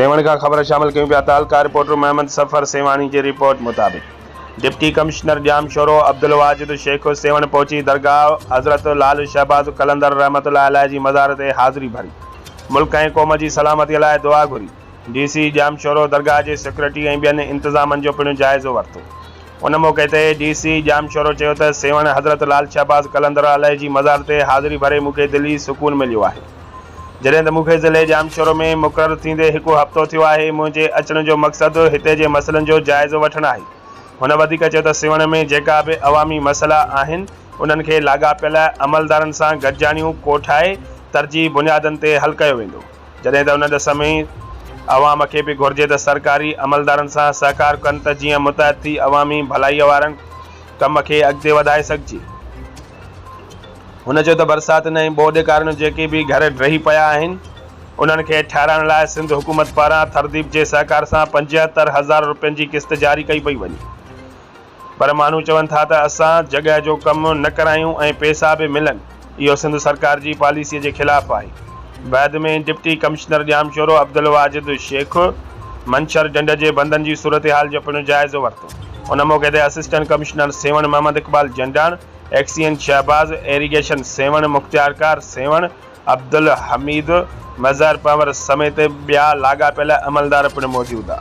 سيوهڻ کان خبر شامل ڪيون پيا تعلقه رپورٽر محمد سفر سيوهاڻي جي رپورٽ مطابق deputy commissioner Jamshoro Abdul Wajid Shaikh Sehwan پهچي درگاهه حضرت لعل شهباز قلندر رحمت الله عليه جي مزار تي حاضري ڀري ملڪ ۽ قوم جي سلامتي لاء دعا گهري ڊي سي ڄام شورو درگاهه جي سيڪيورٽي ۽ ٻين انتظامن جو پڻ جائزو ورتو ان موقعي تي ڊي سي ڄام شورو چيو ته سيوهڻ حضرت لعل شهباز قلندر عليه جي مزار تي حاضري ڀري مون کي دلي سڪون مليو آهي جڏهن ته مون کي ضلعي ڄام شورو ۾ مقرر ٿيندي هڪ هفتو ٿيو آهي منهنجي اچڻ جو مقصد هتي جي مسئلن جو جائزو وٺڻ آهي هن وڌيڪ چيو ته سيوهڻ ۾ جيڪا به عوامي مسئلا آهن انهن کي لاڳاپيل عملدارن سان گڏجاڻيون ڪوٺائي ترجيحي بنيادن تي حل ڪيو ويندو. جڏهن ته ان ڏس ۾ عوام کي به گهرجي ته سرڪاري عملدارن سان سهڪار ڪن ته جيئن متحد ٿي عوامي ڀلائيء وارن ڪم کي اڳتي وڌائي سگهجي. هن چيو ته برساتن ۽ ٻوڏ ڪارڻ جيڪي به گهر ڊهي پيا آهن انهن کي ٺهرائڻ لاء سنڌ حڪومت پاران ٿرديپ جي سهڪار سان پنجهتر هزار روپين جي قسط جاري ڪئي پئي وڃي. پر ماڻهو چون ٿا ته اسان جڳهه جو ڪم نه ڪرايون ۽ پئسا به ملن، اهو سنڌ سرڪار جي پاليسيء جي خلاف آهي. بعد ۾ ڊپٽي ڪمشنر ڄامشورو عبدالواجد شيخ منڇر ڍنڍ جي بندن جي صورتحال جو پڻ جائزو ورتو. ان موقعي تي assistant commissioner Sehwan Muhammad Iqbal Jandan, XEN Shahbaz, irrigation Sehwan مختيارڪار سيوهڻ عبدالحميد، مظهر پنور سميت ٻيا لاڳاپيل عملدار پڻ موجود هئا.